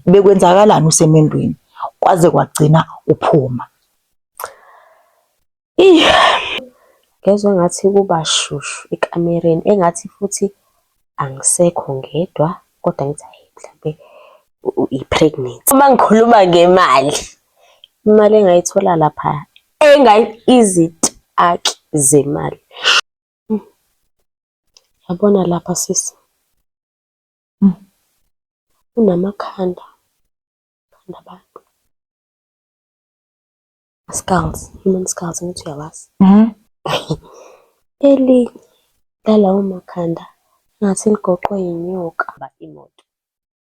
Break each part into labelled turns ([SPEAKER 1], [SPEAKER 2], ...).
[SPEAKER 1] bekwenzakalani usemendweni kwaze kwagcina uphuma. Ih
[SPEAKER 2] ngezwe ngathi kuba shushu ekamereni engathi futhi angisekho ngedwa kodwa ngithi ayi mhlampe i-pregnant. Uma ngikhuluma ngemali, imali engayithola lapha engayi izitaki zemali. Yabona lapha sisi Unamakhanda khanda abantu. Skulls, human skulls ngithi uyawazi. Elinye lalawo makhanda ngathi ligoqwe yinyoka ba imoto.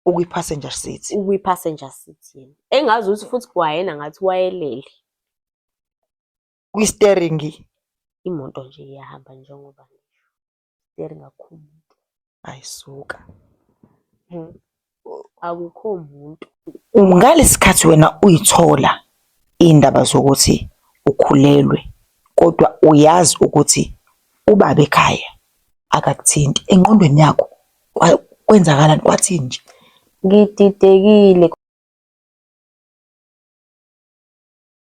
[SPEAKER 2] Ukwi-passenger
[SPEAKER 1] seat. Ukwi-passenger seat
[SPEAKER 2] yena. Engazi ukuthi futhi kwayena ngathi wayelele.
[SPEAKER 1] Kwi-steering. Imoto nje
[SPEAKER 2] iyahamba njengoba Very ngakho umuntu. Hayi suka. Hmm. Akukho muntu. Ngalesikhathi
[SPEAKER 1] wena uyithola indaba zokuthi ukhulelwe kodwa uyazi ukuthi ubaba ekhaya akakuthinti engqondweni yakho kwenzakalani kwathini nje? Ngididekile.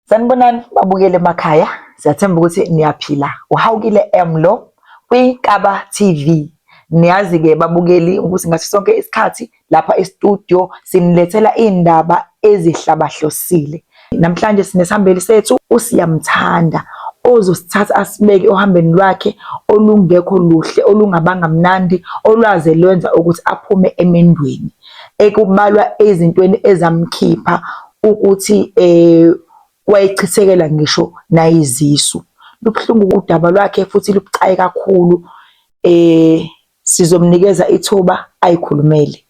[SPEAKER 1] Sanibonani babukele emakhaya, siyathemba ukuthi niyaphila. Uhawukile M lo kwiNkaba TV. Niyazi-ke babukeli ukuthi ngaso sonke isikhathi lapha e-studio sinilethela iy'ndaba ezihlabahlosile. Namhlanje sinesihambeli sethu uSiyamthanda ozosithatha asibeke ohambeni lwakhe olungekho luhle olungabanga mnandi olwaze lwenza ukuthi aphume emendweni ekubalwa ezintweni ezamkhipha ukuthi um wayechithekela ngisho nayizisu. Lubuhlungu udaba lwakhe futhi lubucayi kakhulu, um sizomnikeza ithuba ayikhulumele.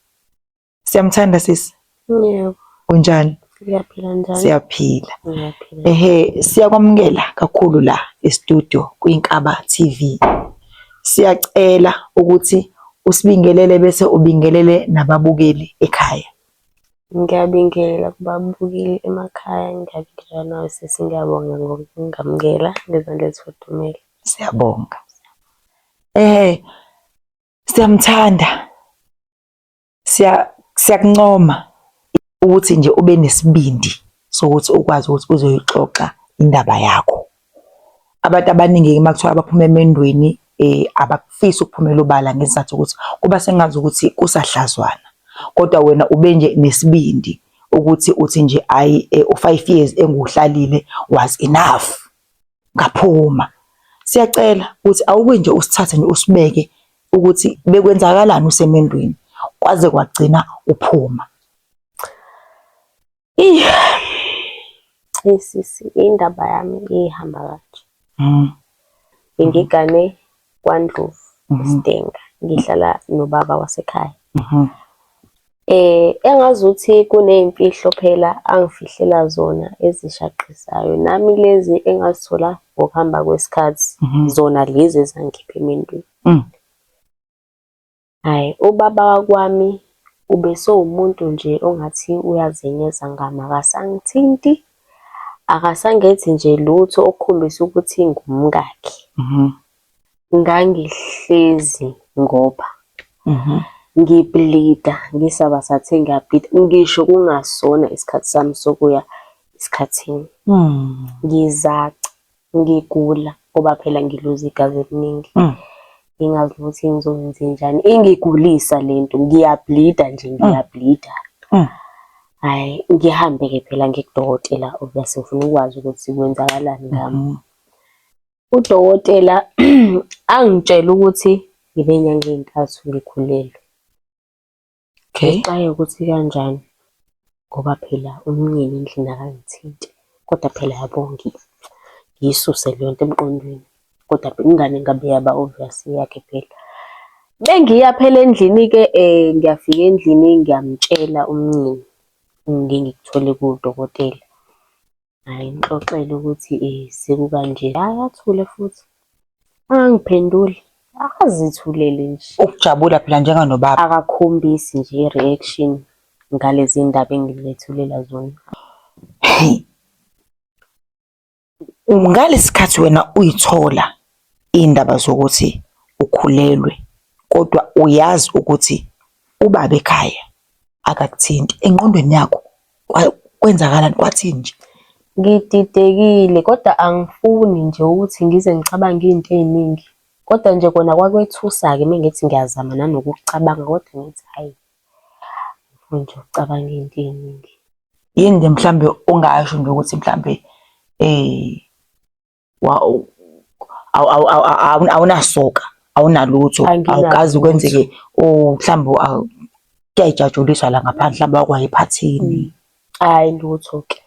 [SPEAKER 1] Siyamthanda sisi? Yebo.
[SPEAKER 2] Unjani?
[SPEAKER 1] Siyaphila njalo.
[SPEAKER 2] Siyaphila. Ngiyaphila.
[SPEAKER 1] Ehhe,
[SPEAKER 2] siyakwamukela
[SPEAKER 1] kakhulu la e-studio kwiNkaba TV. Siyacela ukuthi usibingelele bese ubingelele nababukeli ekhaya. Ngiyabingelela
[SPEAKER 2] kubabukeli emakhaya, ngiyabingelela nawe sisi, ngiyabonga ngokungamukela ngezandla ezifudumele. Siyabonga.
[SPEAKER 1] Eh siyamthanda. Siya siyakuncoma ukuthi nje ube nesibindi sokuthi ukwazi ukuthi uzoyixoxa indaba yakho. Abantu abaningi-ke uma kuthiwa baphuma emendweni um abakufisi ukuphumela obala ngesizathu ukuthi kuba sengazi ukuthi kusahlazwana kodwa wena ube nje nesibindi ukuthi uthi nje ayi eh, u-five years enguhlalile was enough ngaphuma. Siyacela ukuthi awuke nje usithathe nje usibeke ukuthi bekwenzakalani usemendweni kwaze kwagcina uphuma.
[SPEAKER 2] Sisi, indaba yami ihamba kanje. Mm. Ngigane kwaNdlovu mm-hmm. Sidenga, ngihlala nobaba wasekhaya. Mm-hmm. Eh engazuthi kunezimfihlo phela angifihlela zona ezishaqisayo nami lezi engazithola ngokuhamba kwesikhathi mm-hmm. zona lezi ezangikhipha emendweni. Mm. Ay ubaba wakwami ubesewumuntu nje ongathi uyazenyeza ngami akasangithinti akasangenzi nje lutho okukhombisa ukuthi ngumkakhe. Ngangihlezi ngoba ngi bleeder ngisaba sathe ngiya bleeder ngisho kungasona isikhathi sami sokuya esikhathini ngizaca ngigula ngoba phela ngiluza igazi eliningi mm. ngingazi ukuthi ngizokwenze njani ingigulisa le nto ngiyabhlida nje mm. ngiyabhlida mm. hayi ngihambe-ke phela ngikudokotela obviously ngifuna ukwazi ukuthi kwenzakalani ngami mm-hmm. udokotela angitshela ukuthi ngibe nyanga ey'ntathu ngikhulelwe Okay. Uxake ukuthi kanjani ngoba phela umnyeni endlini akangithinti. Kodwa phela yabo ngiyisuse leyo nto emqondweni. Kodwa ingane ngabe yaba obvious eyakhe phela. Bengiya phela endlini-ke ngiyafika endlini ngiyamtshela umnyeni ngingikuthole kudokotela. Hhayi ngixoxele ukuthi sekukanje, hhayi athule futhi angangiphenduli akazithulele nje. Ukujabula phela njenga
[SPEAKER 1] nobaba. Akakhombisi nje
[SPEAKER 2] i-reaction ngalezi ndaba engilethulela zona.
[SPEAKER 1] Ngalesi khathi wena uyithola iy'ndaba zokuthi ukhulelwe kodwa uyazi ukuthi ubaba ekhaya akakuthinti, engqondweni yakho Kwa- Kwenzakalani kwathini nje? Ngididekile
[SPEAKER 2] kodwa angifuni nje ukuthi ngize ngicabange izinto eziningi. Kodwa nje kona kwakwethusa-ke uma ngithi ngiyazama nanokucabanga kodwa ngithi hhayi, angifuni nje ukucabanga izinto eziningi. Yini nje
[SPEAKER 1] mhlambe ongasho nje ukuthi mhlambe eh awunasoka awunalutho awukazi kwenzeke mhlawumbe kuyayijatshuliswa la ngaphandle mhlawumbe wakwaye ephathini mm. hayi
[SPEAKER 2] lutho ke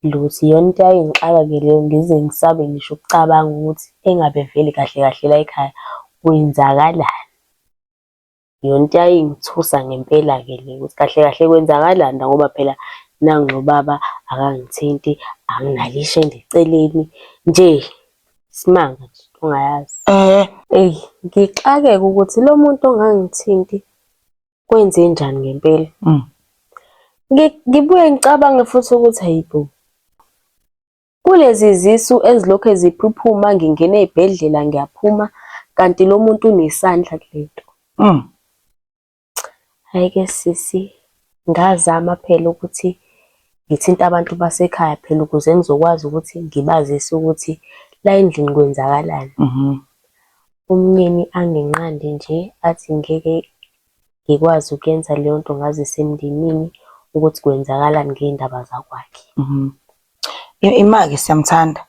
[SPEAKER 2] lutho iyona into yayingixaka ke leyo ngize ngisabe ngisho ukucabanga ukuthi engabe vele kahle kahle la ekhaya kwenzakalani Yonto yayingithusa ngempela-ke le ukuthi kahle kahle kwenzakalani la ngoba phela nangu lo baba akangithinti, anginalo ishende eceleni nje isimanga nje into ongayazi. Eyi ngixakeke ukuthi lo muntu ongangithinti kwenzenjani ngempela. Ngibuye ngicabange futhi ukuthi hayibo Kulezi zisu ezilokhe ziphuphuma ngingena ezibhedlela ngiyaphuma kanti lo muntu unesandla kulento. Mm. Hayi ke sisi ngazama phela ukuthi ngithinte abantu basekhaya phela ukuze ngizokwazi ukuthi ngibazise ukuthi la endlini kwenzakalani. Mhm. Umnyeni anginqande nje athi ngeke ngikwazi ukuyenza leyo nto ngazise emndenini ukuthi kwenzakalani ngey'ndaba zakwakhe. Mhm.
[SPEAKER 1] Imake siyamthanda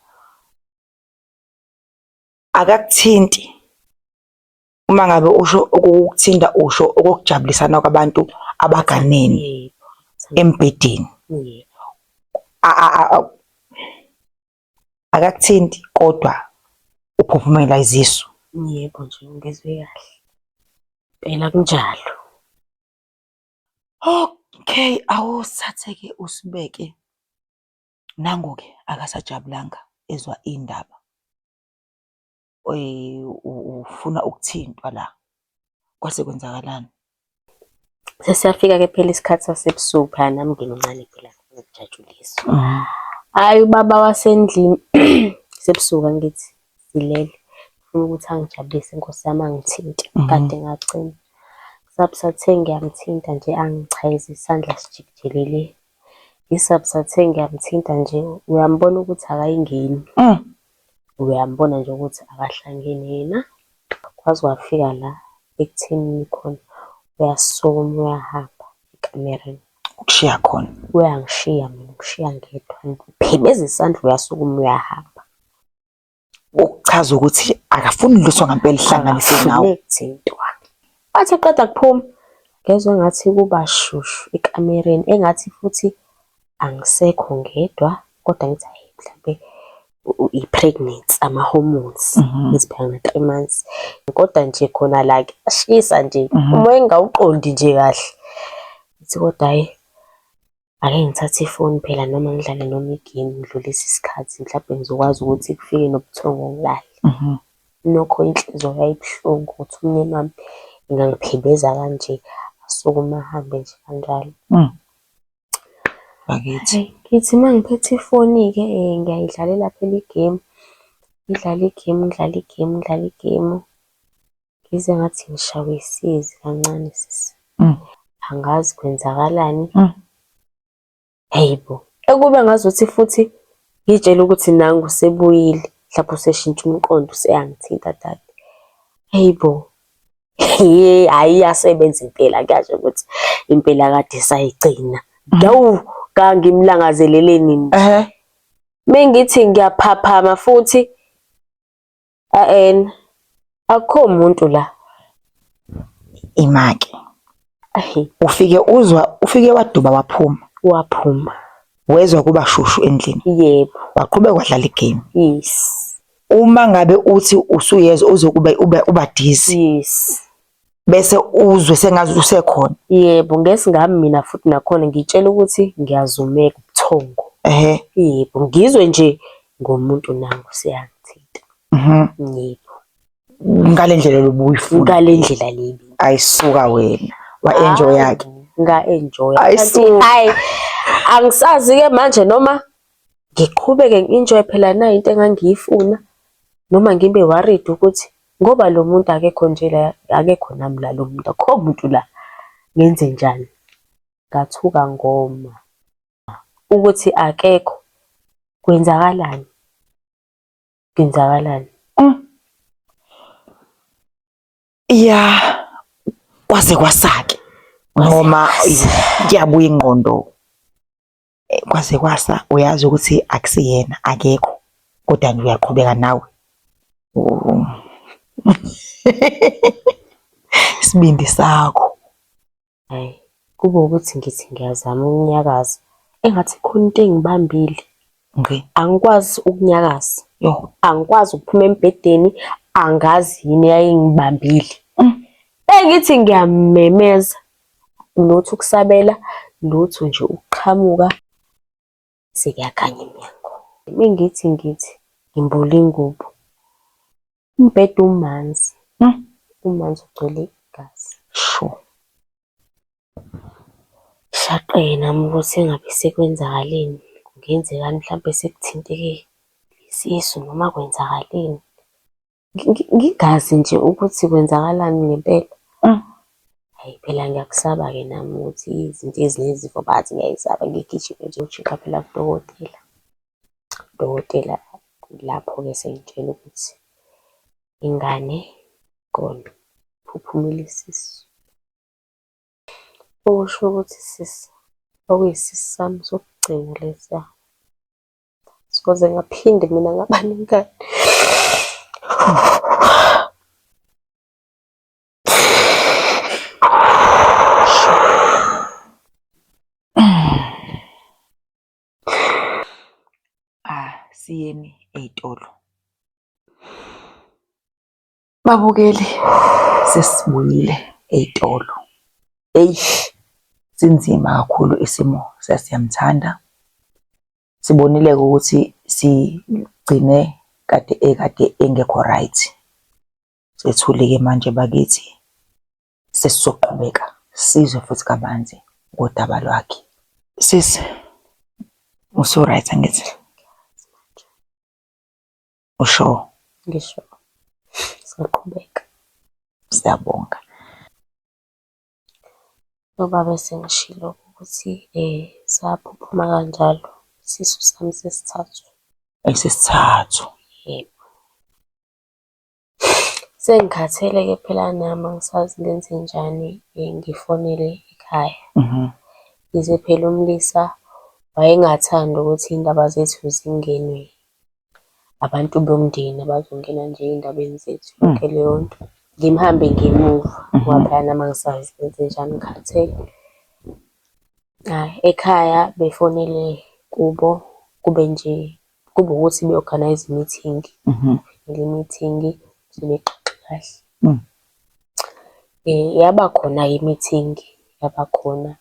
[SPEAKER 1] akakuthinti uma ngabe usho okukuthinta usho okokujabulisana kwabantu abaganene embhedeni akakuthinti kodwa uphuphumela izisu. Yebo nje
[SPEAKER 2] ngizwe kahle phela kunjalo.
[SPEAKER 1] Okay, awusathe-ke uSibeke nangu-ke akasajabulanga ezwa iy'ndaba. Ufuna ukuthintwa la, kwase kwenzakalani?
[SPEAKER 2] Sesiyafika-ke phela isikhathi sasebusuku phela nami ngimncane phela ngikujatshulisa. Hhayi ubaba wasendlini sebusuku angithi. Ngizilele ngifuna ukuthi angijabulise Nkosi yami angithinte kade ngacima. Kusabusathe ngiyamthinta nje angichayeze isandla sijikijele le. Ngisabusathe ngiyamthinta nje uyambona ukuthi akayingeni. Uyambona nje ukuthi akahlangene yena. Kwaze kwafika la ekuthenini khona uyasukuma uyahamba ekamereni. Ukushiya khona?
[SPEAKER 1] Uyangishiya mina
[SPEAKER 2] ungishiya ngedwa. Ngiphebeza isandla uyasukuma uyahamba.
[SPEAKER 1] ukuchaza ukuthi akafuni lutho ngampela ihlanganise nawe izinto
[SPEAKER 2] athi qeda kuphuma ngezwe ngathi kuba shushu ekamereni engathi futhi angisekho ngedwa kodwa ngithi hayi mhlampe i-pregnancy ama-hormones mhm. iziphanga nge-three months kodwa nje khona la kuyashisa nje mhm. uma engawuqondi nje kahle ithi kodwa hhayi Ake ngithathe ifoni phela noma ngidlale noma i-game ngidlulise isikhathi mhlampe ngizokwazi ukuthi kufike nobuthongo ngilale. Nokho inhliziyo yayibuhlungu ukuthi umyeni wami engangiphebeza kanje asukume ahambe nje kanjalo.
[SPEAKER 1] Bakithi. Ngithi uma ngiphethe
[SPEAKER 2] ifoni-ke ngiyayidlalela phela i-game, ngidlale i-game, ngidlale i-game, ngidlale i-game. Ngizwe ngathi ngishawe isizi kancane sisi. Mm. Angazi kwenzakalani. Mm. Hey bo. Ekube ngazuthi futhi ngitshela ukuthi nangu sebuyile mhlawumbe useshintsha umqondo useyangithinta dade. Hey bo. Hey hayi yasebenza impela kuyasho ukuthi impela kade sayigcina. Dawu kangimlangazeleleni nje. Ehe. Mengithi ngiyaphaphama futhi aen akukho muntu la imake
[SPEAKER 1] ahe ufike uzwa ufike waduba waphuma waphuma
[SPEAKER 2] wezwa kuba
[SPEAKER 1] shushu endlini yebo waqhubeka
[SPEAKER 2] wadlala
[SPEAKER 1] igame yes
[SPEAKER 2] uma ngabe
[SPEAKER 1] uthi usuyezwa uzokube ube ubadizi yes
[SPEAKER 2] bese
[SPEAKER 1] uzwe sengazi usekhona yebo ngesi ngami
[SPEAKER 2] mina futhi nakhona ngitshela ukuthi ngiyazumeka ubuthongo ehe yebo ngizwe nje ngomuntu nangu siyangithinta mhm yebo
[SPEAKER 1] ngale ndlela lobuyifuna ngale ndlela lebi
[SPEAKER 2] ayisuka wena
[SPEAKER 1] wa enjoy yakhe nga enjoy
[SPEAKER 2] kanti hayi angisazi ke manje noma ngiqhubeke ngi-enjoy phela na into engangiyifuna noma ngibe worried ukuthi ngoba lo muntu akekho nje la akekho nami la lo muntu akho muntu la ngenze njani ngathuka ngoma ukuthi akekho kwenzakalani kwenzakalani mm.
[SPEAKER 1] ya kwaze kwasake noma kuyabuya ingqondo eh, kwaze kwasa uyazi ukuthi akusiyena akekho kodwa nje uyaqhubeka nawe isibindi sakho hayi
[SPEAKER 2] kube ukuthi ngithi ngiyazama ukunyakaza engathi khona into engibambile ngqi angikwazi ukunyakaza yo angikwazi
[SPEAKER 1] ukuphuma
[SPEAKER 2] embhedeni angazi yini yayingibambile mm. engithi ngiyamemeza lutho ukusabela, lutho nje ukuqhamuka sekuyakhanya emnyango. Uma ngithi ngithi ngimbule ingubo, umbhede umanzi, hmm. umanzi ugcwele igazi. Sho. Shaqe nami ukuthi engabe sekwenzakaleni, kungenzekani mhlampe sekuthinteke isisu noma kwenzakaleni. ngingazi nje ukuthi kwenzakalani ngempela mm. hayi phela ngiyakusaba-ke nami ukuthi izinto ezinezifo bathi ngiyayisaba ngigijime nje utshiqa phela kudokotela udokotela lapho-ke sengitshela ukuthi ingane kona phuphumile isisu okusho ukuthi sisi okuyisisi sami sokugcina lesiya soze ngaphinde mina ngaba nengane
[SPEAKER 1] asiyeni ah, ey'tolo Babukeli sesibuyile ey'tolo. Eish sinzima kakhulu isimo sasiyamthanda. Sibonile-ke ukuthi sigcine kade ekade engekho right. Sethule-ke manje bakithi sesizoqhubeka sizwe futhi kabanzi ngodaba lwakhe. Sisi usu-right angithi? usho ngisho
[SPEAKER 2] siyaqhubeka
[SPEAKER 1] siyabonga
[SPEAKER 2] ngoba bese ngishilo ukuthi um saphuphuma kanjalo isisu sami sesithathu esesithathu
[SPEAKER 1] yebo
[SPEAKER 2] sengikhathele ke phela nami angisazi ngenze njani um ngifonele ekhaya mhm. yize phela umlisa wayengathandi ukuthi iy'ndaba zethu zingenwe abantu bomndeni abazongena nje ey'ndabeni zethu hmm. yonke leyo nto. Ngimhambe ngemuva mhm. ngoba phela uma ngisazi kwenzenjani ngikhathele. Hhayi, ekhaya befonele kubo kube nje kube ukuthi be-organize i-meeting. Mhm. Le meeting sebexoxe kahle. Hmm. Eh, yaba khona-ke i-meeting, yaba khona.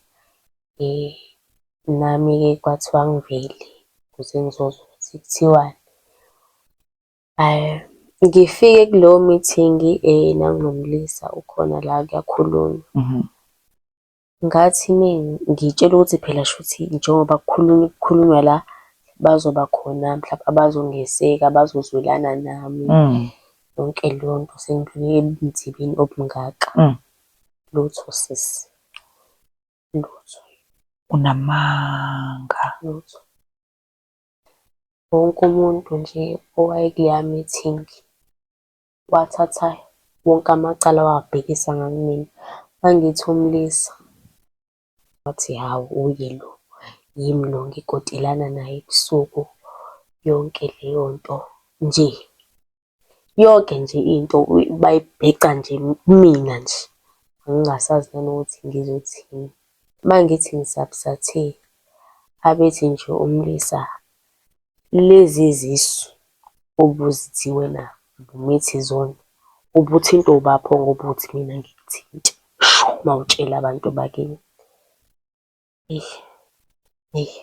[SPEAKER 2] Nami-ke kwathiwa ngivele ukuze ngizozwa ukuthi kuthiwani. Ngifike kulowo mithingi nangulo mlisa ukhona la kuyakhulunywa. Ngathi uma ngitshelwa ukuthi phela shuthi njengoba kukhulunywa kukhulunywa la, bazoba khona mhlampe abazongeseka, bazozwelana nami, yonke leyo nto. Sengidlule ebunzimeni obungaka. Lutho sisi. Lutho. Unamanga.
[SPEAKER 1] Lutho.
[SPEAKER 2] Wonke umuntu nje owayekuleya meeting wathatha wonke amacala wawabhekisa ngakumina. Mangithi umlisa wathi hhawu uye lo, yimi lo ngikotelana naye ebusuku yonke leyo nto nje. Yonke nje into bayibheca nje kumina nje, ngingasazi nanokuthi ngizothini. Uma ngithi ngisapsathe abethi nje umlisa, lezi zisu obuzithi wena ubumithi zona, ubuthintwa ubapho ngoba uthi mina ngikuthinte. Sho uma utshela abantu bakini. Eish, eish.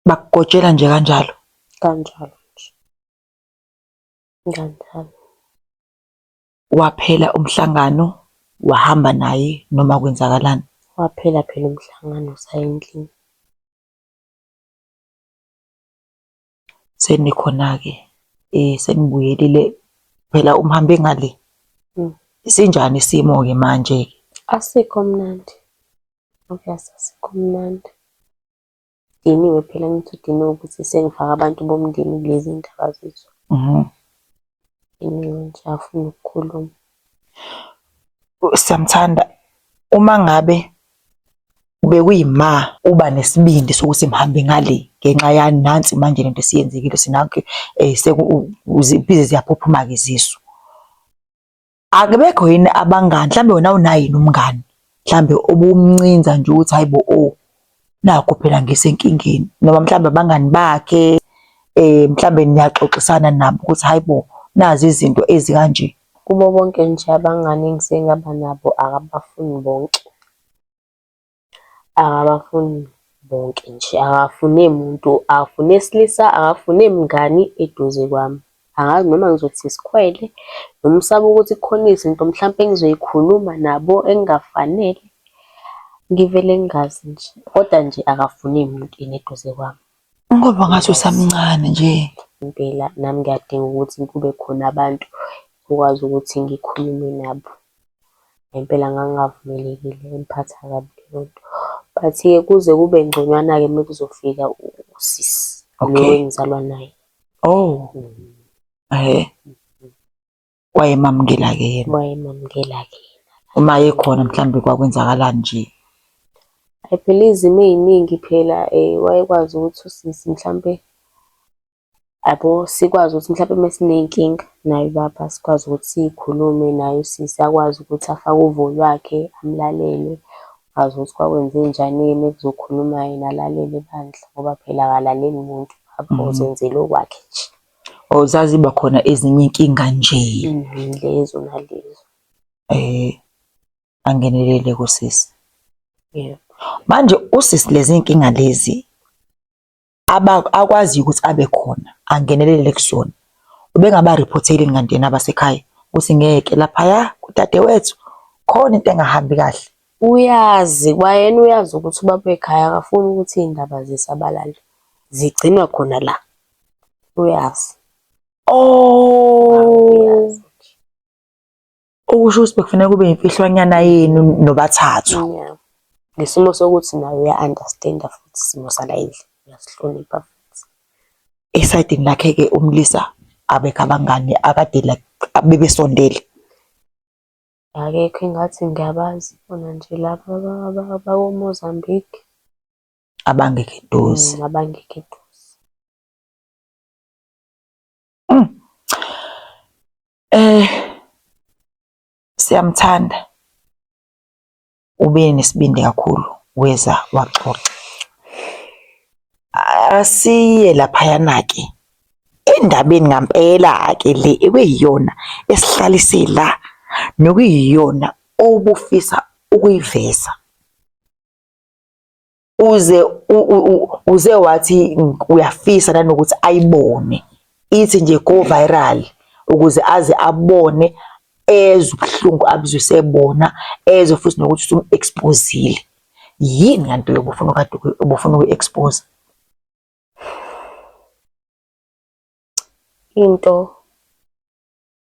[SPEAKER 1] bakugotshela nje kanjalo kanjalo
[SPEAKER 2] nje kanjalo waphela
[SPEAKER 1] umhlangano wahamba naye noma kwenzakalani waphela phela
[SPEAKER 2] umhlangano sayendlini
[SPEAKER 1] senikhona-ke um senibuyelile phela umhambe ngale mm. sinjani isimo-ke manje-ke
[SPEAKER 2] asikho mnandi obvious asikho mnandi Ngidiniwe phela ngithi udiniwe ukuthi sengifaka abantu bomndeni kulezi ndaba zethu. Mhm. Ngidiniwe nje afuna ukukhuluma.
[SPEAKER 1] Siyamthanda uma ngabe bekuyima uba nesibindi sokuthi mhambe ngale ngenxa yani nansi manje lento esiyenzekile sinakho eh seku u- u- zibize ziyaphuphumaza izisu. akubekho yini abangani mhlambe wena unayini umngani mhlambe obumncinza nje ukuthi hayibo o oh, nakho phela ngisenkingeni noma mhlambe abangani bakhe eh mhlambe niyaxoxisana nabo ukuthi hayibo nazi izinto ezikanje kubo bonke
[SPEAKER 2] nje abangani engisengaba nabo akabafuni bonke Akabafuni bonke nje, akafune muntu, akafune silisa, akafune mngani eduze kwami. Angazi noma ngizothi isikhwele noma usaba ukuthi kukhona izinto mhlampe engizoy'khuluma nabo engafanele. Ngivele ngingazi nje, koda nje akafune muntu yena eduze kwami. Ngoba ngathi
[SPEAKER 1] usamncane nje. Impela nami
[SPEAKER 2] ngiyadinga ukuthi kube khona abantu okwazi ukuthi ngikhulume nabo. Ngempela ngangingavumelekile ingiphatha kabi leyo nto. But-ke kuze kube ngconywana-ke uma kuzofika usisi lo engizalwa naye. Oh, hhe.
[SPEAKER 1] wayemamukela-ke yena wayemamukela-ke
[SPEAKER 2] yena uma ekhona
[SPEAKER 1] mhlawumbe kwakwenzakalani nje I
[SPEAKER 2] phela izimo ey'ningi phela um wayekwazi ukuthi usisi mhlampe yabo sikwazi ukuthi mhlampe uma siney'nkinga naye ubaba sikwazi ukuthi siyikhulume naye usisi akwazi ukuthi afake uvo lwakhe amlalele azi ukuthi kwakwenze njani yena ekuzokhuluma yena alalele bandla ngoba phela akalaleli muntu mhm. uzenzela okwakhe nje Or zaziba khona
[SPEAKER 1] ezinye inkinga nje. Mhm, lezo
[SPEAKER 2] nalezo. Eh
[SPEAKER 1] angenelele kusisi. Yeah.
[SPEAKER 2] Manje
[SPEAKER 1] usisi lezi inkinga lezi aba akwazi ukuthi abe khona angenelele kusona. Ubengaba reporteli kanti yena abasekhaya ukuthi ngeke lapha ya kudadewethu khona into engahambi kahle. Uyazi
[SPEAKER 2] kwayena uyazi ukuthi ubaba wekhaya akafuni ukuthi iy'ndaba zisabalale, zigcinwa khona la. Uyazi. Oh!
[SPEAKER 1] Okusho ukuthi bekufanele kube imfihlwanyana yenu nobathathu. Yeah. Ngesimo
[SPEAKER 2] sokuthi naye uya-understand-a futhi isimo sala endlini, uyasihlonipha futhi. Esayidini
[SPEAKER 1] lakhe-ke umlisa abekho abangani akade like bebesondele.
[SPEAKER 2] Akekho engathi ngiyabazi khona nje laba abakoMozambique.
[SPEAKER 1] Abangekho eduze. Abangekho
[SPEAKER 2] eduze.
[SPEAKER 1] Siyamthanda. ube nesibindi kakhulu weza waxoxa. Asiye laphayana-ke endabeni ngampela-ke le ekuyiyona esihlalise la nokuyiyona obufisa ukuyiveza. uze uze wathi uyafisa nanokuthi ayibone ithi nje go viral ukuze aze abone ezwe ubuhlungu abuzusebona ezwe futhi nokuthi usumu-exposile yini kanti yokufuna kade ubufuna uku-expose
[SPEAKER 2] into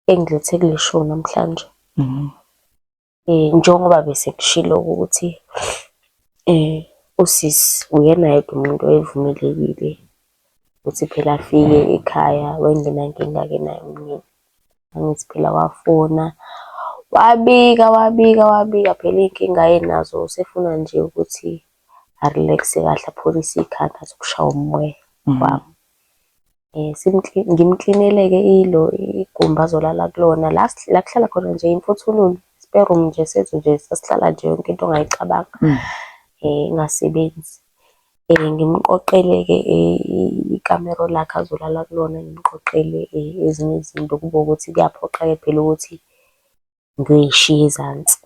[SPEAKER 2] engilethe kuleshow namhlanje mhm. eh njengoba bese kushilo ukuthi eh usisi uyena yedwa umuntu oyevumelekile ukuthi phela afike ekhaya wayengenankinga-ke naye umnyeni. Angithi phela wafona wabika wabika wabika phela iy'nkinga ayenazo usefuna nje ukuthi a-relax-e kahle apholise ikhanda athi ukushawa umoya wami. Ngimklinele-ke ilo igumbi azolala kulona la la kuhlala khona nje imfuthululu, spare room nje sethu nje sasihlala nje yonke into ongayicabanga engasebenzi. Ngimqoqele-ke ikamero lakhe azolala kulona, ngimqoqele ezinye izinto kube ukuthi kuyaphoqa-ke phela ukuthi ngiyoyishiya ezansi.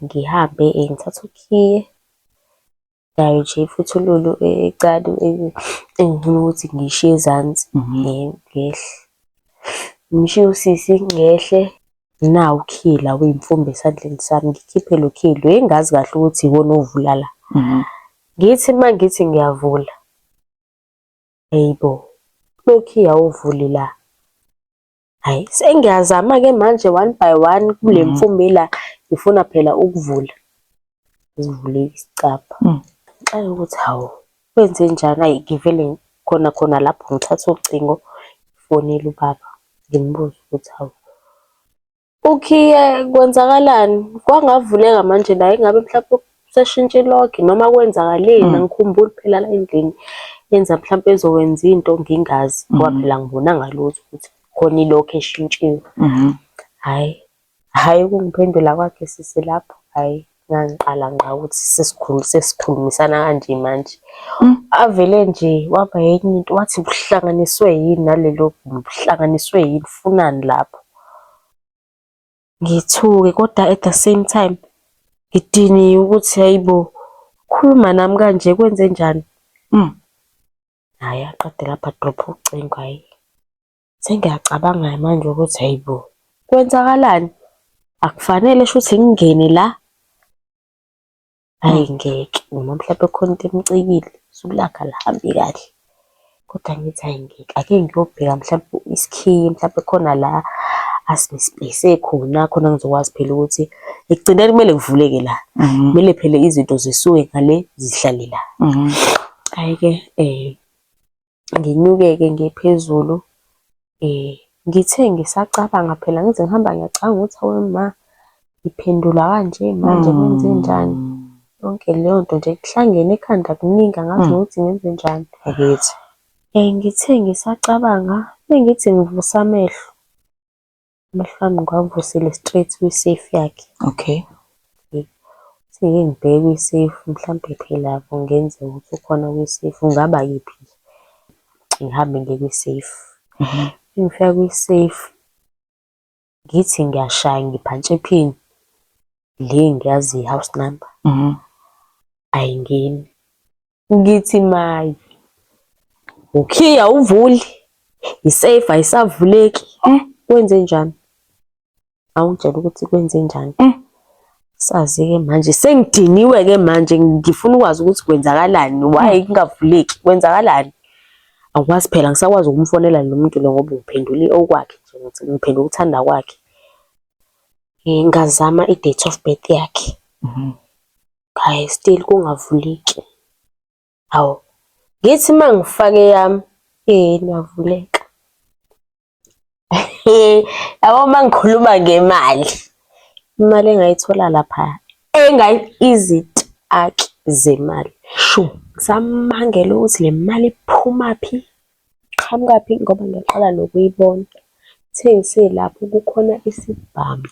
[SPEAKER 2] Ngihambe ngithathe ukhiye Nayo nje imfuthululu encane engifuna ukuthi ngiyishiye ezansi ngehle. Ngishiye usisi ngehle. Nawu ukhila wey'mfumba esandleni sami, ngikhiphe lo khilo. Hheyi ngazi kahle ukuthi iwona ovula la. Ngithi uma ngithi ngiyavula, hhayi bo, lokhiya awuvuli la. Hayi sengiyazama ke manje one by one kule mm. mfumbi la ngifuna phela ukuvula ngivule isicabha mm. ngenxa yokuthi hawu kwenze njani ayi ngivele khona khona lapho ngithatha ucingo ngifonele ubaba ngimbuze ukuthi hawu ukhiye kwenzakalani kwangavuleka manje la ingabe mhlawumbe Useshintshe ilogi noma kwenzakaleni angikhumbuli phela la endlini yenza mhlawumpe ezokwenza into ngingazi ngoba phela angibonanga lutho ukuthi khona ilogi eshintshiwe. Hhayi, hhayi ukungiphendula kwakhe sisi lapho hhayi ngangiqala ngqa ukuthi sesikhulumisana kanje manje. Avele nje waba enye into wathi uhlanganiswe yini naleli logi, uhlanganiswe yini, ufunani lapho. ngithuke kodwa at the same time ngidiniwe ukuthi hayibo khuluma nami kanje kwenze njani mm. hayi aqede lapha drop ucingo hayi sengiyacabanga manje ukuthi hayibo kwenzakalani akufanele shuthi ngingene la Ayi ngeke noma mhlawumpe khona into emcikile usuku lakhe alihambi kahle. Kodwa ngithi ayi ngeke ake ngiyobheka mhlawumpe isikhiye mhlawumpe khona la asibhekise khona khona ngizokwazi phela ukuthi ekugcineni kumele kuvuleke la. Mhm. Kumele phela izinto zisuke ngale zihlale la. Mhm. Hhayi-ke um nginyuke-ke ngiye phezulu. Ngithe ngisacabanga phela ngize ngihamba ngiyacabanga ukuthi hawe ma ngiphendula kanje manje kwenzenjani. Yonke leyo nto nje kuhlangene ekhanda kuningi angazi nokuthi ngenzenjani. Bakithi. Ngithe ngisacabanga mengithi ngivusa amehlo, amehlo ami ngiwavusile straight kwi-safe yakhe. Okay. Sengike ngibheke kwi-safe mhlampe phela kungenzeka ukuthi ukhona kwi-safe, kungaba yiphi nje. Ngihambe ngiye kwi-safe. Mengifika kwi-safe ngithi ngiyashaya ngiphantshe iphini le engiyaziyo i-house number ayingeni. Ngithi mayi. Ukhiya uvuli. Isafe ayisavuleki. Eh, kwenze njani? Awungitshela ukuthi kwenze njani? Eh. Sazi ke manje sengidiniwe ke manje ngifuna ukwazi ukuthi kwenzakalani why hmm. kungavuleki kwenzakalani akwazi phela ngisakwazi ukumfonela lo muntu lo ngoba ngiphendule okwakhe nje ngithi ngiphendula ukuthanda kwakhe ngingazama i-date of birth yakhe mhm. qhayi still kungavuleki. Hawu ngithi uma ngifake eyami yini yavuleka. Yabo uma ngikhuluma ngemali imali engayithola lapha engayi izitaki zemali. Shu ngisamangele ukuthi le mali iphumaphi Iqhamukaphi ngoba ngiyaqala nokuyibona. Kuthe ngiselapho kukhona isibhamu,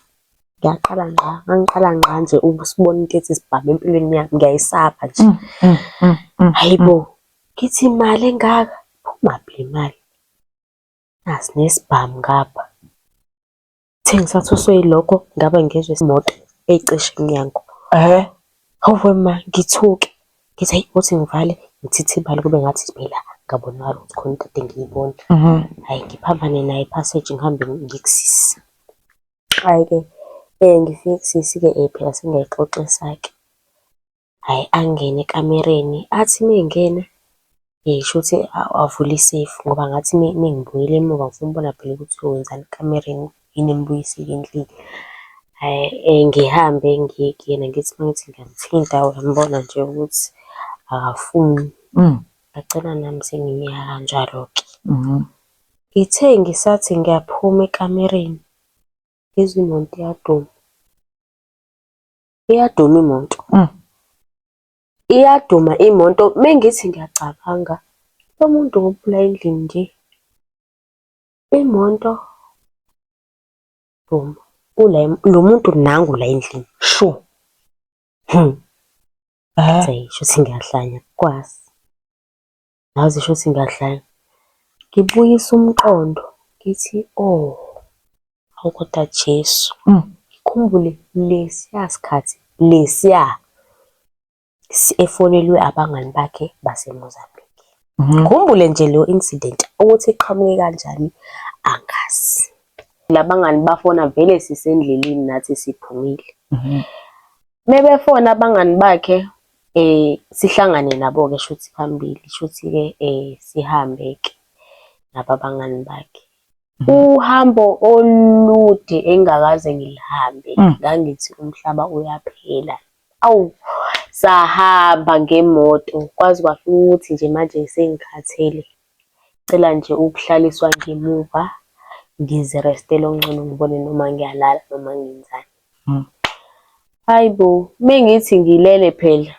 [SPEAKER 2] ngaqala ngqa, ngangiqala ngqa nje ukusibona into ethi sibhamu empilweni yami, ngiyayisaba nje. Mm, mm, mm, Hhayi bo, ngithi imali engaka, iphumaphi le mali? Nasi nesibhamu ngapha. Thi ngisathuswe yilokho ngabe ngezwe imoto eyicishe emnyango. Eh? Hawu ma ngithuke. Ngithi ayi uthi ngivale ngithithibale kube ngathi phela ngabonakala ukuthi khona into ade ngiyibona. Mhm. Hhayi ngiphambane naye passage ngihambe ngikusisi. Hhayi-ke um ngifike kusisi-ke um phela sengiyayixoxisa-ke. Hhayi angene ekamereni, athi uma engena hhayi shuthi avule iseyifu ngoba ngathi uma ngibuyela emuva ngifuna ukubona phela ukuthi wenzani ekamereni, yini emubuyisile endlini. Hhayi ngihambe ngiye kuyena ngithi uma ngithi ngiyamuthinta uyambona nje ukuthi akafuni. Ngagcina nami sengimyeka kanjalo-ke. Ngithe ngisathi ngiyaphuma ekamereni, ngizwe imoto iyaduma. iyaduma imoto mm. iyaduma imoto mengithi ngiyacabanga lo muntu ngophula endlini nje imoto boom ula lo muntu nangu la endlini sho hmm. Eh. Shuthi ngiyahlanya kwazi. ngazi shuthi ngiyadlala. Ngibuyisa umqondo ngithi oh, awu kodwa Jesu. Mm. Ngikhumbule lesiya sikhathi lesiya efonelwe abangani bakhe baseMozambique. Mhm. Ngikhumbule nje leyo incident ukuthi iqhamuke kanjani angazi. Labangani bafona vele sisendleleni nathi siphumile. Mhm. Mebefona abangani bakhe Eh sihlangane nabo ke shuthi phambili shuthi ke eh sihambe ke naba bangani bakhe. Mhm. Uhambo olude engakaze ngilihambe mm. ngangithi umhlaba uyaphela. Awu sahamba ngemoto kwazi kwafika ukuthi nje manje sengikhathele Ngicela nje ukuhlaliswa ngemuva ngizirestele okungcono ngibone noma ngiyalala noma ngenzani. Hmm. Hayi bo, mengithi ngilele phela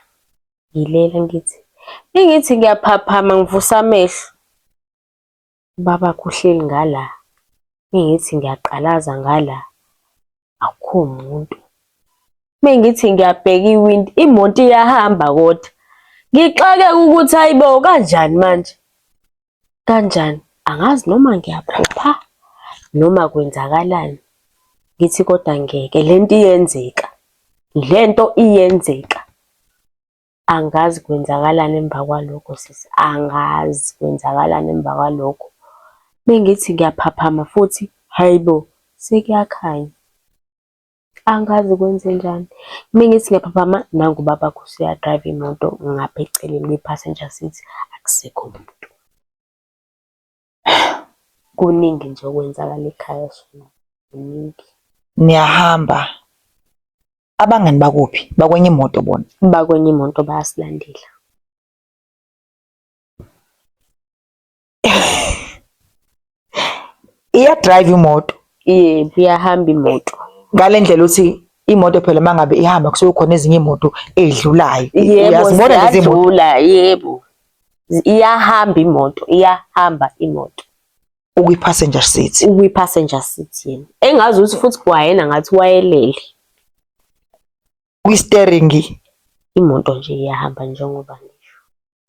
[SPEAKER 2] ngilele ngithi mengithi ngiyaphaphama ngivusa amehlo ubaba kuhleli ngala, mengithi ngiyaqalaza ngala akukho muntu. Uma ngithi ngiyabheka iwindi imoto iyahamba kodwa ngixakeke ukuthi ayibo kanjani manje kanjani angazi noma ngiyaphupha noma kwenzakalani ngithi kodwa ngeke lento iyenzeka lento iyenzeka Angazi kwenzakalani emva kwalokho sisi, angazi kwenzakalani emva kwalokho. Uma ngithi ngiyaphaphama futhi, hhayi bo, sekuyakhanya. Angazi kwenzenjani. Uma ngithi ngiyaphaphama, nangu ubabakho useyadrayiva imoto ngapha eceleni kwi-passenger seat, akusekho muntu. Kuningi nje okwenzakala ekhaya Shembe, kuningi. Niyahamba,
[SPEAKER 1] abangani bakuphi? Bakwenye imoto bona? Bakwenye imoto
[SPEAKER 2] bayasilandela.
[SPEAKER 1] Iyadrive imoto? Yebo, iyahamba
[SPEAKER 2] imoto. Ngale ndlela uthi
[SPEAKER 1] imoto phela uma ngabe ihamba kusuke khona ezinye imoto ey'dlulayo. Yebo,
[SPEAKER 2] ziyadlula,
[SPEAKER 1] yebo.
[SPEAKER 2] iyahamba imoto iyahamba imoto ukwi passenger
[SPEAKER 1] seat ukwi passenger seat
[SPEAKER 2] yena engazi ukuthi futhi kwayena ngathi wayelele kwi
[SPEAKER 1] steering imoto nje
[SPEAKER 2] iyahamba njengoba ngisho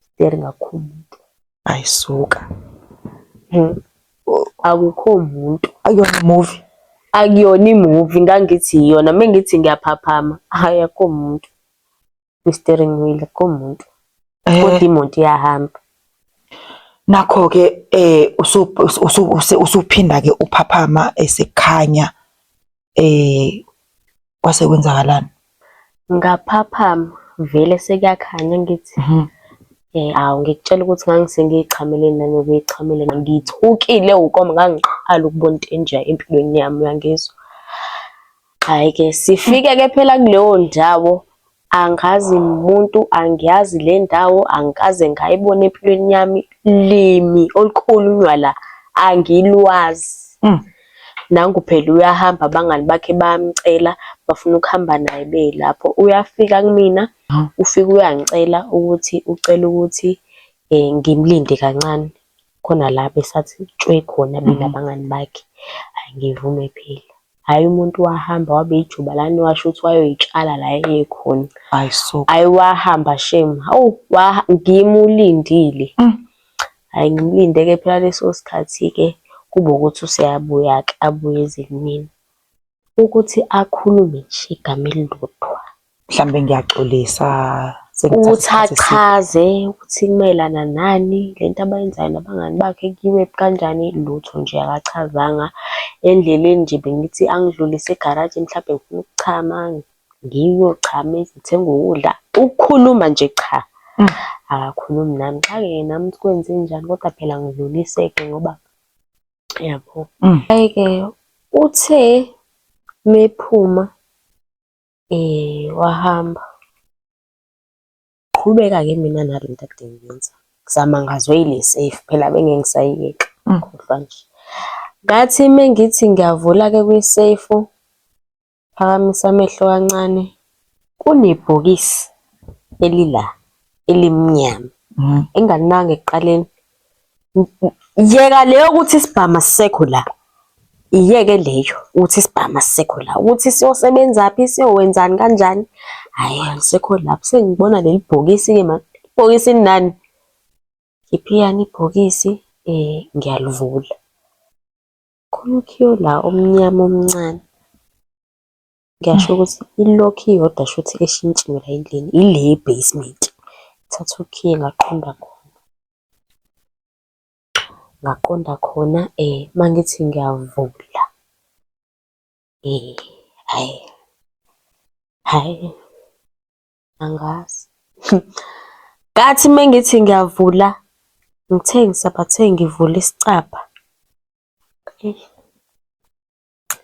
[SPEAKER 2] steering akho umuntu ayisuka
[SPEAKER 1] hmm.
[SPEAKER 2] akukho umuntu ayona movie
[SPEAKER 1] akuyona
[SPEAKER 2] imuvi ngangithi iyona mengithi ngiyaphaphama hayi akho umuntu i-steering wheel komuntu eh. kodwa imoto iyahamba nakho ke
[SPEAKER 1] eh usuphinda ke uphaphama esekhanya eh kwase kwenzakalani ngaphaphama
[SPEAKER 2] vele sekuyakhanya ngithi mhm. eh awu ngikutshela ukuthi ngangisengiyichamele nami ngiyichamele ngithukile ukoma ngangiqala ukubona into enje empilweni yami uyangizwa Hhayi ke sifike ke phela kuleyo ndawo angazi muntu angiyazi le ndawo angikaze ngayibona empilweni yami limi olukhulunywa la angilwazi. Mm. Nangu phela uyahamba abangani bakhe bayamcela bafuna ukuhamba naye beyilapho. Uyafika kumina ufike uyangicela ukuthi ucela ukuthi um ngimlinde kancane. khona la besathi tshwe khona mina nabangani bakhe. Hhayi ngivume phela, hhayi umuntu wahamba wabe ijuba lani washo ukuthi wayoyitshala la eyekhona. Hhayi so. Hhayi
[SPEAKER 1] wahamba
[SPEAKER 2] shame, hawu ngimulindile. Mm. Hhayi ngimlinde-ke phela leso sikhathi-ke kube ukuthi useyabuya-ke abuye eze kumina. Ukuthi akhulume nje igama elilodwa. Mhlambe
[SPEAKER 1] ngiyaxolisa Ukuthi
[SPEAKER 2] achaze ukuthi kumayelana nani le nto abayenzayo nabangani bakhe, kuyiwe kanjani, lutho nje akachazanga. Endleleni nje bengithi angidlulise egaraji mhlampe ngifuna ukuchama, ngiyochama ngithenge ukudla. Ukukhuluma nje cha, akakhulumi nami. Ngixakeke nami ukuthi kwenzenjani kodwa phela ngidlulise-ke ngoba. yabo mm. ayike uthe mephuma eh wahamba qhubeka ke mina nalo into akade ngiyenza ngizama ngazwe ile safe phela bengeke ngisayiyeka mm. khohlwa nje ngathi mengithi ngiyavula ke kwi safe Phakamisa amehlo kancane. Kunebhokisi elila elimnyama mm. engalinanga ekuqaleni. Yeka leyo ukuthi isibhama sisekho la. Iyeke leyo ukuthi isibhama sisekho la. Ukuthi siyosebenza phi, siyowenzani kanjani? Hayi, angisekho lapho. Sengibona leli bhokisi ke manje. Ibhokisi nani? Ngiphiyani ibhokisi eh ngiyalivula. Khona ukhiye la omnyama omncane. Ngiyasho ukuthi i-lock iyodwa shuthi eshintshiwe la endlini, ile ye-basement. Thatha ukhiye ngaqonda khona, ngaqonda khona uma ngithi ngiyavula hhayi, hhayi. angazi ngathi mengithi ngiyavula ngithengisa bathe ngivula isicabha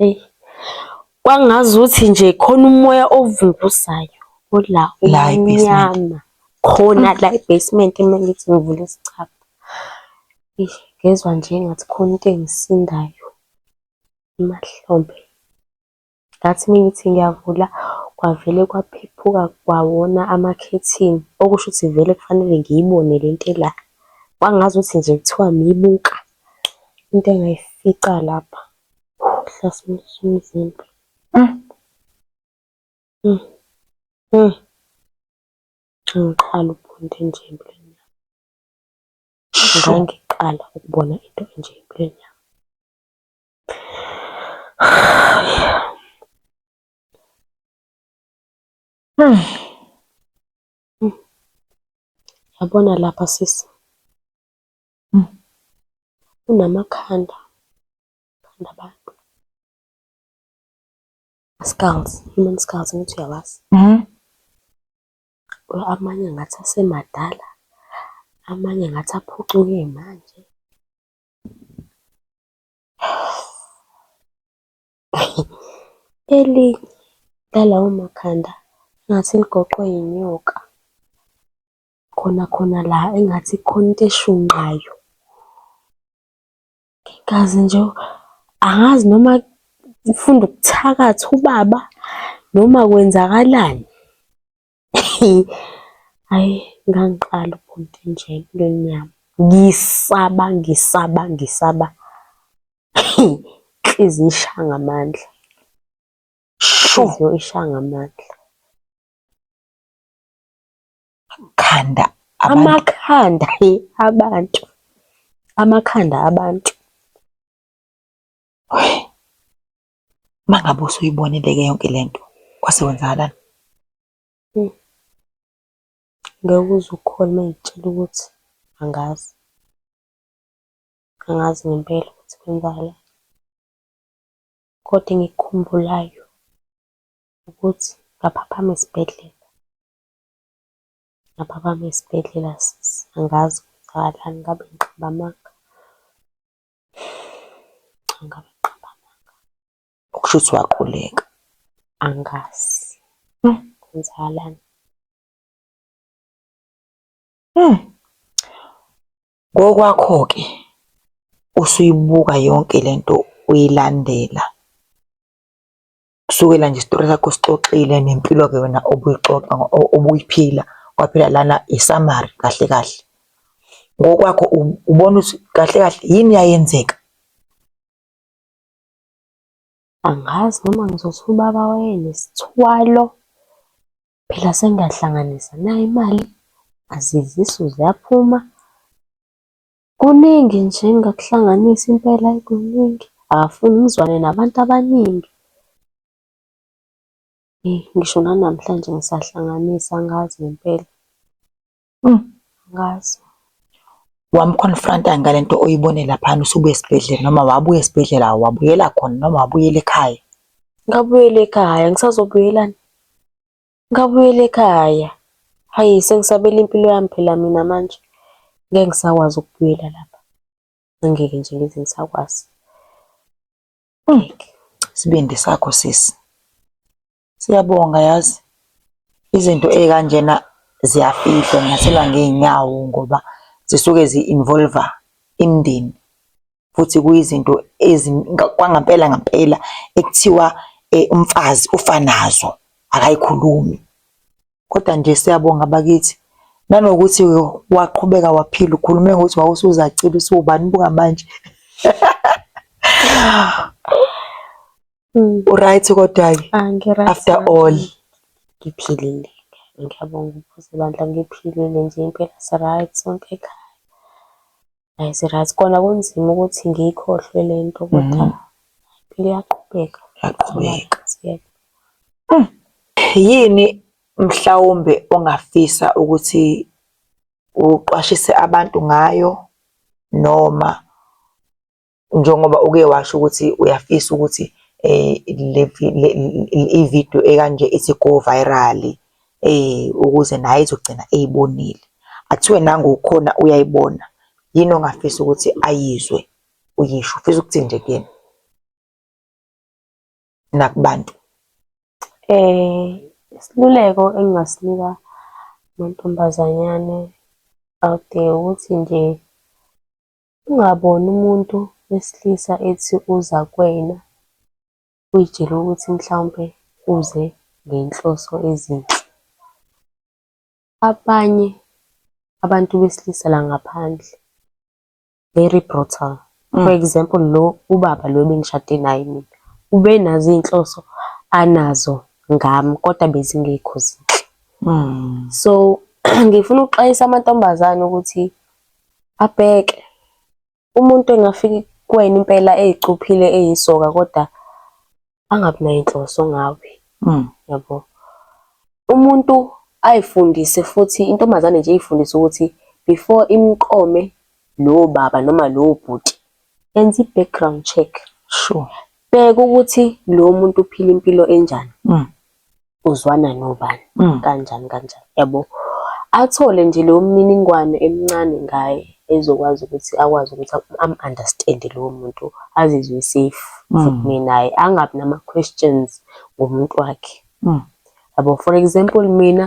[SPEAKER 2] eyi kwangazuthi nje khona umoya ovunguzayo ola umnyama
[SPEAKER 1] khona
[SPEAKER 2] la e-basement uma ngithi ngivula isicabha ngezwa nje engathi khona into engisindayo emahlombe Ngathi uma ngithi ngiyavula kwavele kwaphephuka kwawona amakhethini, okusho ukuthi vele kufanele ngiyibone le nto ela. Kwangazuthi nje kuthiwa ngiyibuka into engayifica lapha ihlasimulisa umzimba. Ngiqala ukubona into enje empilweni yami, ngangiqala ukubona into enje empilweni yami. Hmm. Yabona lapha sisi. Hmm. Unamakhanda. Khanda abantu. Skulls, human skulls ngithi uyawazi. Mhm. Amanye ngathi asemadala. Amanye ngathi aphucuke manje. Eli lalawo makhanda engathi ligoqwe yinyoka, khona khona la engathi kukhona into eshunqayo. Ngingazi nje, angazi noma ufuna ukuthakatha ubaba noma kwenzakalani. Hhayi ngangiqala ubhuti nje empilweni yami, ngisaba ngisaba ngisaba inhliziyo ishaya ngamandla, inhliziyo ishaya ngamandla. Amakhanda amakhanda hhe abantu, amakhanda abantu.
[SPEAKER 1] Uma ngabe usuyibonile-ke yonke le nto, kwase kwenzakalani? Eyi,
[SPEAKER 2] ngeke uze ukholwe uma ngikutshela ukuthi angazi. Angazi ngempela ukuthi kwenzakalani. Kodwa engikukhumbulayo ukuthi ngaphaphama esibhedlela. Ngaphaphama esibhedlela sisi, angazi kwenzakalani ngabe ngiqamba amanga. Ngabe qambananga. Okusho ukuthi
[SPEAKER 1] waquleka.
[SPEAKER 2] Angazi. Kwenzakalani? Hmm.
[SPEAKER 1] Ngokwakho-ke usuyibuka yonke le nto uyilandela. Kusukela nje isitori sakho sixoxile nempilo-ke wena obuyixoxa obuyiphila kwaphela lana isamari kahle kahle ngokwakho ubona ukuthi kahle kahle yini yayenzeka
[SPEAKER 2] angazi noma ngizothi ubaba wayenesithwalo phela sengiyahlanganisa nayo imali azizisu ziyaphuma Kuningi nje engingakuhlanganisa impela ayi kuningi. Akafuni ngizwane nabantu abaningi. Eyi ngisho nanamhlanje ngisahlanganisa angazi ngempela. Angazi.
[SPEAKER 1] Wamu-confront-a ngale nto oyibone laphana usubuya esibhedlela noma wabuya esibhedlela wabuyela khona noma wabuyela ekhaya? Ngabuyela
[SPEAKER 2] ekhaya, ngisazobuyelani? Ngabuyela ekhaya. Hhayi sengisabela impilo yami phela mina manje. Ngeke ngisakwazi ukubuyela lapha. Angeke nje ngize ngisakwazi. Ngeke.
[SPEAKER 1] Isibindi sakho sisi. Siyabonga yazi. Izinto ey'kanjena ziyafihlwa nyathela ngey'nyawo ngoba zisuke zi-involve-a imindeni. futhi kuyizinto kwangampela ngampela ekuthiwa eh, umfazi ufa nazo akayikhulumi kodwa nje siyabonga bakithi nanokuthi waqhubeka waphila ukhulume ngokuthi wawusuzacile usuwubani buka manje Mm. Uright kodwa-ke ah, after all ngiphilile
[SPEAKER 2] ngiyabonga ukuphose bandla ngiphilile nje impela siright sonke ekhaya Hayi sirazi kona kunzima ukuthi ngiyikhohlwe le nto kodwa Mhm. impilo iyaqhubeka. Yaqhubeka.
[SPEAKER 1] Siyepha. Yini mhlawumbe ongafisa ukuthi uqwashise abantu ngayo noma njengoba uke washo ukuthi uyafisa ukuthi eh le video ekanje ithi go viral eh ukuze naye izogcina eyibonile athiwe nangu ukhona uyayibona yini ongafisa ukuthi ayizwe uyisho ufisa ukuthi nje kuyena nakubantu eh
[SPEAKER 2] isiluleko engingasinika mantombazanyane out there ukuthi nje Ungaboni umuntu wesilisa ethi uza kuwena uy'tshele ukuthi mhlawumpe uze ngenhloso ezinhle. Abanye abantu besilisa la ngaphandle very brutal. For example, lo ubaba lo ebengishade naye mina ubenazo iy'nhloso anazo ngami kodwa bezingekho zinhle. So ngifuna ukuxwayisa amantombazane ukuthi Abheke. Umuntu engafika kuwena impela ey'cuphile eyisoka koda angabi nay'nhloso ngawe, yabo. Umuntu ay'fundise futhi intombazane nje iy'fundise ukuthi before imqome lowo baba noma lowo bhuti, enza i-background check. Sure.
[SPEAKER 1] Bheka ukuthi
[SPEAKER 2] lo muntu uphila impilo enjani. uzwana nobani mm. kanjani kanjani yabo athole nje leyo mniningwane emncane ngaye ezokwazi ukuthi akwazi ukuthi am-understand lowo muntu azizwe safe futhi mm. naye angabi nama-questions ngomuntu wakhe mm. yabo for example mina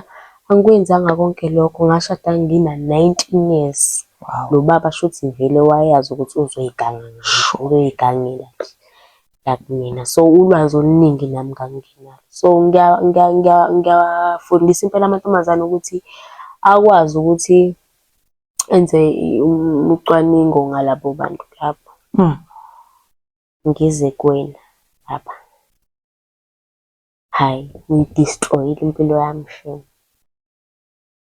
[SPEAKER 2] angikwenzanga konke lokho ngashada ngina-nineteen years lo baba
[SPEAKER 1] shuthi vele
[SPEAKER 2] wayazi ukuthi uzoyiganga uzoyigangela nje like mina so ulwazi oluningi nami ngangingenalo so ngiyawafundisa impela amantombazane ukuthi akwazi ukuthi enze ucwaningo ngalabo bantu lapho hmm. ngize kuwena lapha hhayi ngiyidestroyile impilo yami shame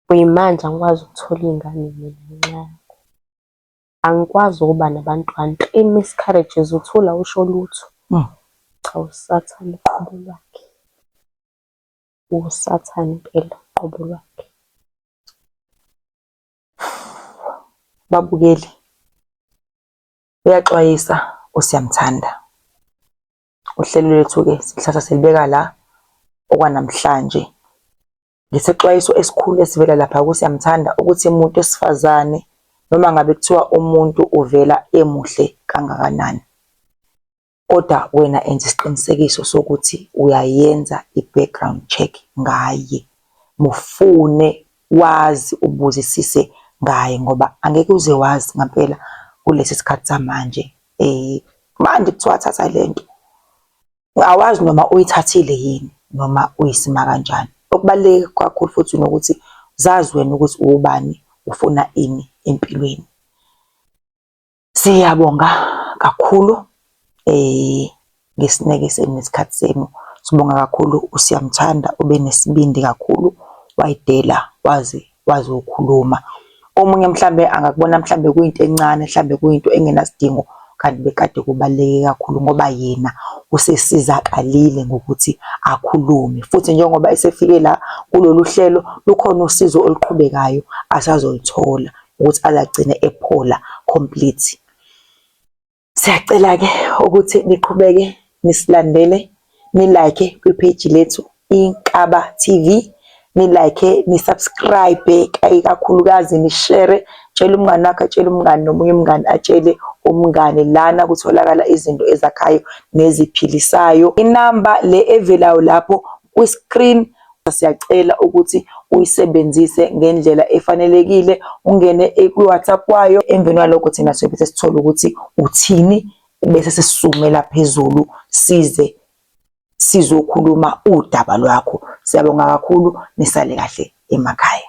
[SPEAKER 2] kuyimanje angikwazi ukuthola iy'ngane mina ngenxa Angikwazi ukuba nabantwana. I miscarriages uthule awusho lutho. Cha usathane uqobo lwakhe. Usathane impela uqobo lwakhe.
[SPEAKER 1] Babukeli uyaxwayisa uSiyamthanda. Uhlelo lwethu-ke silithatha silibeka la okwanamhlanje. ngesexwayiso esikhulu esivela lapha kuSiyamthanda ukuthi umuntu wesifazane noma ngabe kuthiwa umuntu uvela emuhle kangakanani kodwa wena enza isiqinisekiso sokuthi uyayenza i-background check ngaye mufune wazi ubuzisise ngaye ngoba angeke uze wazi ngampela kulesi sikhathi samanje eh manje kuthiwa thatha lento awazi noma uyithathile yini noma uyisima kanjani. Okubaluleke kakhulu futhi nokuthi zazi wena ukuthi uwubani ufuna ini empilweni. Siyabonga kakhulu eh ngesineke senu nesikhathi senu. Sibonga kakhulu uSiyamthanda ube nesibindi kakhulu wayidela wazi wazi ukukhuluma. Omunye mhlambe angakubona mhlambe kuyinto encane, mhlambe kuyinto engenasidingo kanti bekade kubaluleke kakhulu ngoba yena usesizakalile ngokuthi akhulume. Futhi njengoba esefike la kulolu hlelo lukhona usizo oluqhubekayo asazolithola ukuthi azagcine ephola complete. Siyacela-ke ukuthi niqhubeke nisilandele nilike kwipheyiji lethu Inkaba TV nilike nisubscribe kakhulukazi nishere tshela umngani wakho atshele umngani nomunye umngani atshele umngani lana kutholakala izinto ezakhayo neziphilisayo inamba le evelayo lapho kwi-screen Siyacela ukuthi uyisebenzise ngendlela efanelekile, ungene kwi-WhatsApp kwayo. Emveni kwalokho thina siyobe sesithola ukuthi uthini bese sisizumela phezulu size sizokhuluma udaba lwakho. Siyabonga kakhulu, nisale kahle emakhaya.